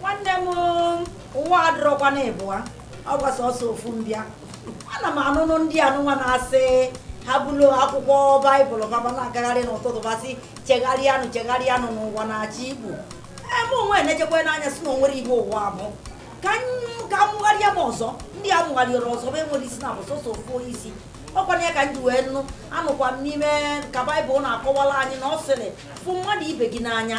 nwanne m ụwa adịrọkwa na ịbụa ọkwa sọsọ ofu mbịa ana m anụnụ ndị anụnwa na-asị ha buru akwụkwọ baịbụl ba ba na-agagharị n'ụtụtụ ba sị chegharịanụ chegharịanụ n'ụwa na-achị igbo eme onwe na-echekwa n'anya si na o nwere igbo ụwa a bụ ka a mụgharịa m ọzọ ndị a mụgharịrị ọzọ bụ enwere isi na bụ sọsọ ofu onye isi ọkwana ya ka m ji wee nụ anụkwa m n'ime ka baịbụl na-akọwala anyị na ọ sịrị fụ mmadụ ibe gị n'anya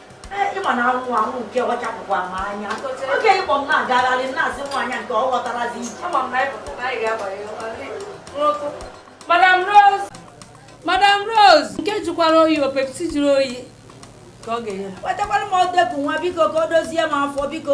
ịma na anwụ anwụ nke ọ chapụkwa m anya oge ị kpọ m na-agagharị na-asị nwaanyị nke ọ ghọtarazi ije madam rose madam rose nke jikwara oyi ọ pepsi jiri oyi ka ọ ga-enye wetakwara m odeku nwa biko ka o dozie m afọ biko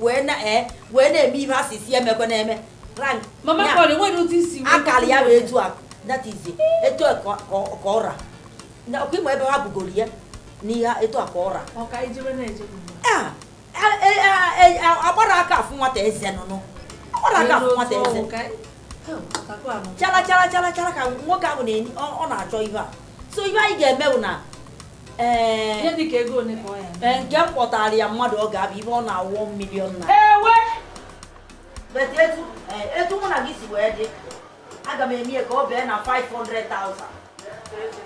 wee na-eme eh, ihe a si si emekwe na-eme akara ya wee etu a that is etu a ka ọ ra ọkwa ị ma ebe ha bugoro ya n'ihe etu a ka ọ ra agbara aka afụ nwata eze nụnụ agbara aka afụ nwata eze chara chara chara chara ka nwoke ahụ na-enye ọ na-achọ ihe a so ihe anyị ga-eme wụ na nke m kpọtara ya mmadụ ọ ga-abụ ibe ọ na-awụ million na etu mụ na gị si wee dị aga m eme ka ọ bee na 500,000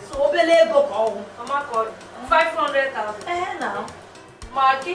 so obele ego ka ọ wụ 500,000 ee na ma gị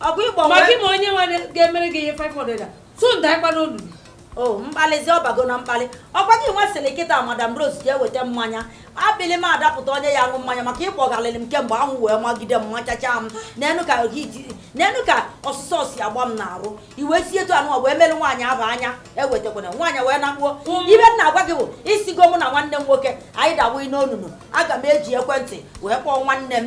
ọ bụ ịgbanwe ma gị ma onye nwe ga-emere gị ihe 500 so nda ịkwa n'olulu o oh, mkpalizi ọ bago na mkpali ọkwa gị nwa sịrị kịta madam rose jee weta mmanya abịlị m adapụta onye ya aṅụ mmanya maka ị kpọgharịrị m kemgbe anwụ wee magide m machacha m neenụ ka neenụ ka ọsụsọ si agba m n'arụ i wee si etu anụ wee mere nwaanyị aba anya ewetakwana nwaanyị wee nakpuo ibe m na-agwa gị bụ ị sịgo mụ na nwanne m nwoke anyị dawa n'onunu aga m eji ekwentị wee kpọọ nwanne m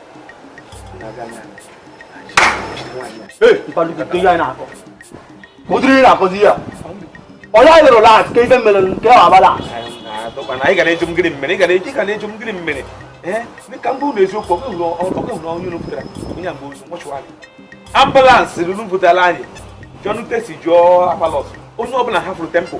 ụdịrị ị na-akọzi ya onye anyị lụrụ lat ka ife mere nke ọ abala anyị ga na-eju mmiri mmiri ga na-eji ga na-eju mmiri mmiri dịka mbụ na eziokwu ọkụ na onye unu pụtara onye mgbe ozu nwachụwarị ambulance ruru butela anyị jọnutesi jụọ apalos onye ọbụla hafụrụ tempụl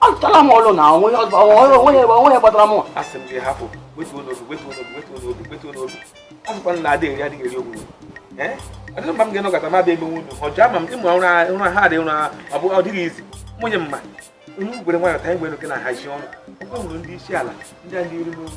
achọtala m ọlụ na onwe ya gbatara m asị m gị hapụ wetuo n'obi wetuo n'obi wetuo n'obi wetuo n'obi asịkwa na adịghị eri adịghị eri ogwu ọ dịrị mma m ga-enọgata m abịa emenwe unu ọjọọ ama m ịmụ ụra ha dị ụra ọ bụ ọ dịghị izi nwunye mma onye ugwere nwayọ ta anyị gwere oke na hazi ọnụ ọ bụrụ ndị isi ala ndị a ndị iru n'obi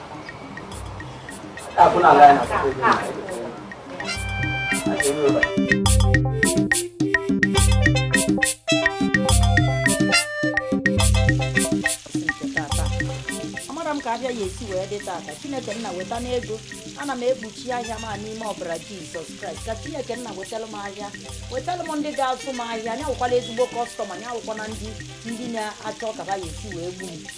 amara m ka ahịa ya-esi wee dị tata chineke nna wetanụ ego ana m ekpuchi ahịa m a n'ime ọbara jizọs kraịst ka chineke nna wetara m ahịa wetara m ndị ga-azụ m ahịa nya wụkwala ezigbo kọstọma nya awụkwana ndị ndị na-achọ ka ha ya-esi wee gbuo m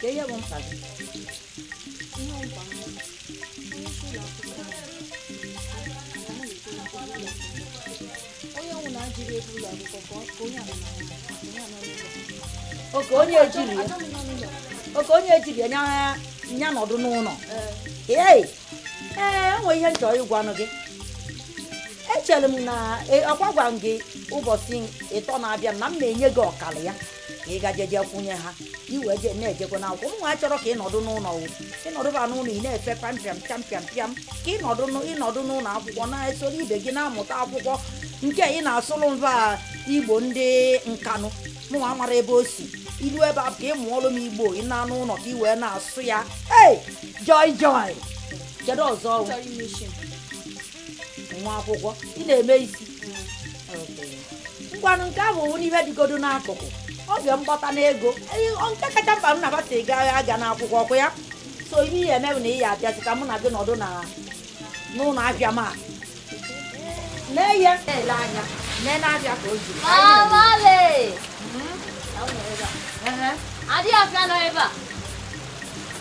ka ihe bụ mkpa gị onye ọnwụ na-ajiri ego ụlọ akwụkwọ ka onye anọ oke onye ejiri ya oke onye ejiri ya nya- nya nọdụ n'ụlọ ee ee e nwe ihe m chọ ịgwanụ gị echere m na e- ọkwa agwara m gị ụbọchị ịtọ na-abịa m na m na-enye gị ọkara ya ka ị gaje jee kwụnye ha i wee je na-ejekwa na akwụkwọ mụnwa achọrọ ka ị nọdụ n'ụlọ ị nọdụba n'ụlọ ị na-efe pịam pịam pịam pịam pịam ka ị nọdụ n'ụ- ị nọdụ n'ụlọ akwụkwọ na-esoro ibe gị na-amụta akwụkwọ nke ị na-asụrụ mba igbo ndị nkanụ mụnwa amara ebe o si i ruo ebe a ka ị mụọlụ m igbo ị naa n'ụlọ ka ị wee na-asụ ya ei joy joy kedu ọzọ wụ? Chọrọ ime isi m. nwa akwụkwọ ị na-eme isi ngwanụ nke ahụ wụnụ ihe dịgodo n'akụkụ oge m kpata ego Ee, ọ nke kacha mkpa m nabata ego agha aga n'akwụkwọ ọkwa ya so ihe ị ya-eme bụ na ị ya-abịazi ka mụ na gị nọdụ na n'ụlọ ahịa m a lee ihe na-ele anya lee n'ahịa ka o ji Awale! Ehe. Adị afịa nọ ebe a.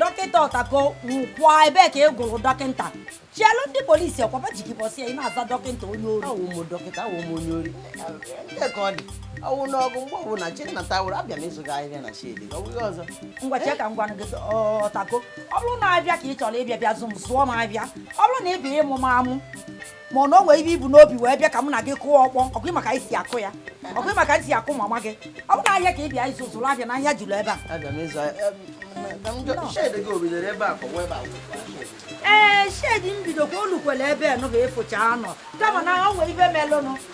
dọkịta ọtako nkwụọ ebee ka ị gụrụ dọkịta chelụ ndị polisi ọkwa ha ji gị ụbọsị a ị na-aza dọkịta onye ori awụ m dọkịta awụ m onye ori ndị ka ọ dị awụ n'ọgụ mgbe ọbụla chi nna tawụrụ abịa m ịzụ gị ahịa na shedi ọ bụghị ọzọ ngwa chee ka m gwanụ gị ọtako ọ bụrụ na ahịa ka ị chọrọ ịbịa bịa zụ m zụọ m ahịa ọ bụrụ na ị bịa ịmụ m amụ ma ọ na o nwere ihe i bu n'obi wee bịa ka mụ na gị kụọ ọkpọ ọkwa ị ma ka anyị si akụ ya ọkwa ị ma ka anyị si akụ mama gị ọ bụ na ahịa ka ị bịa ịzụ zụrụ ahịa na ahịa juru ebe a Abịa m ịzụ ahịa. Em, ka m jụ- shade gị o bidoro ebe a ka ọ wee baa akwụkwọ? ee shedi m bidokwa o lukwere ebe nụ ga-efocha anọ kama na o nwere ihe melụnụ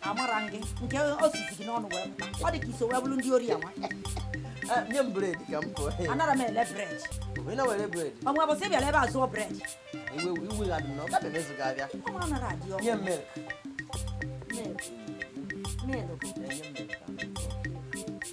amara m nke o si si gị n'ọnụ wee pụta ọ dị ka i so wee bụrụ ndị ori ya nwa Eh, nye m bred ka m pụọ anara m ele bred onye na-ewere bred ọnwa bụsị bịara ebe a zụọ bred iwe iwe ga-adị m na ọ gabe mezu ga-abịa ọ mara nara adị ọkụ nye m milk Milk. Milk. Eh, nye m milk ka m pụọ.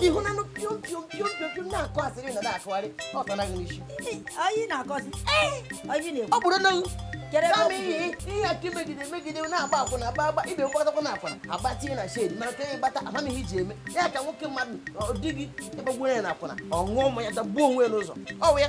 ị hụnanụ piom piom piom piom piom na-akọ asịrị na na-akọgharị ọ tana gị n'isi Anyị na-akọzi. Anyị na-ekwu. ọ bụrụ na Kere m kama ọkụ. ihe ihe aka megide megide na-agba akwụna agba agba ihe ị gbatakwa n'akwụna agba tinye na shade mana ka ihe ị gbata ama m ihe i ji eme ya ka nwoke mmadụ di gị ị gbagbuo ya n'akwụna ọ ṅụọ mmanya dagbuo onwe ya n'ụzọ ọ wụ ya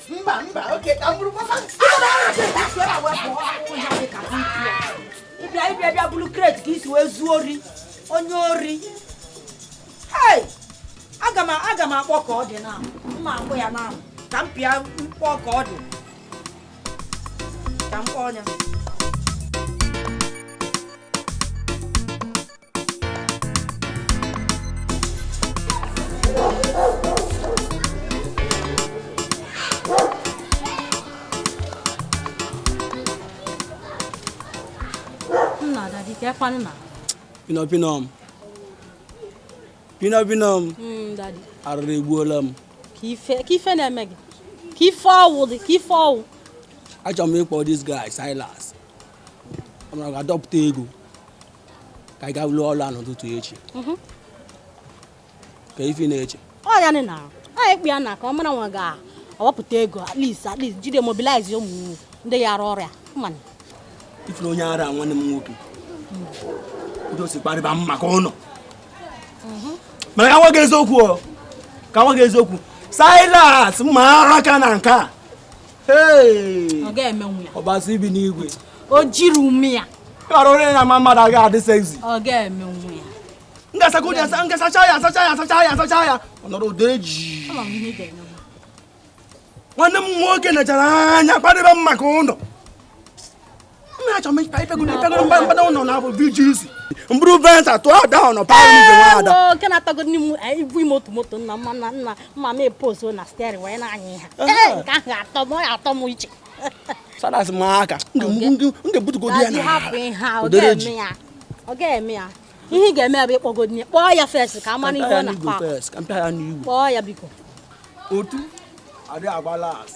mba mba oke ka m bụrụ papa ịbịa ịbịa bịa buru crate ka i si wee zuo ori onye ori aga m akpọ ka ọ dị na mma akpọ ya na ka m pịa mkpọ ka ọ dị ka m kpọọ ya pinọpinọm pinọpinọm hmm, arụrụ egbuola m ka ife na-eme gị ka ife ọ wụ dị ka ife ọ wụ achọrọ m ịkpọ this guy Silas ọ ga-adọpụta ego ka anyị gaa lụọ ọrụ a n'ụtụtụ echi mhm. ke ife i na-eche ọ ya na anyị kpọ ya na ka a mara ma ọ ga-awapụta ego at least at least jide mobilize ụmụ ndị ya arụ ọrụ a mana ị fụrụ onye ara nwanne m nwoke ndị osi kparịba m maka ụlọ mhm. mana ka m gwa gị eziokwu ka m gwa gị eziokwu Silas mara aka na nke a ọ ga-emenwu ya Ọbasi bi n'igwe o jiri ume ya ọrụ onye na-ama mmadụ aga adị sexy ọ ga-emenwu ya m ga-asa ka onye asa m ga-asacha ya asacha ya asacha ya asacha ya ọ nọrọ ụdọ eji ama m ihe ị ga-eme nwanne m nwoke nechara anya kparịba m maka ụlọ m buru Venza tụ ada ọ nọ paụlụ ibe nwa ada nke na-atago ndị m ibu ime otu moto nna mma na nna mma m eposo na steering wee na-anya ha nke ahụ atọ m ya atọ m iche Silas m aka ndị butugodo ya na odere ji ọ ga-eme ya ihe ị ga-eme ya bụ ịkpọgodo nye kpọọ ya first ka a mara ihe ọ na-akpa kpọọ ya biko otu adị agba last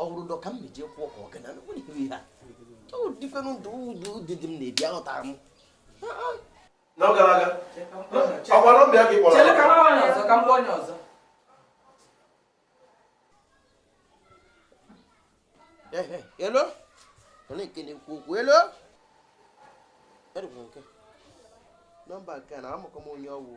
ọ bụrụ dọ ka m meje kwụọ ka ọgana ihe a dịkwanụ ndụ ụdụ dị dị m na-ebi aghọtara m na ọ gara aga ọ kwa nọmba ya ka ị kpọrọ hello onye nke na-ekwu okwu hello nọmba nke na amụkọ m onye ọ wụ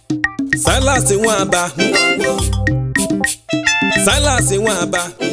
Silas Nwaba Silas Nwaba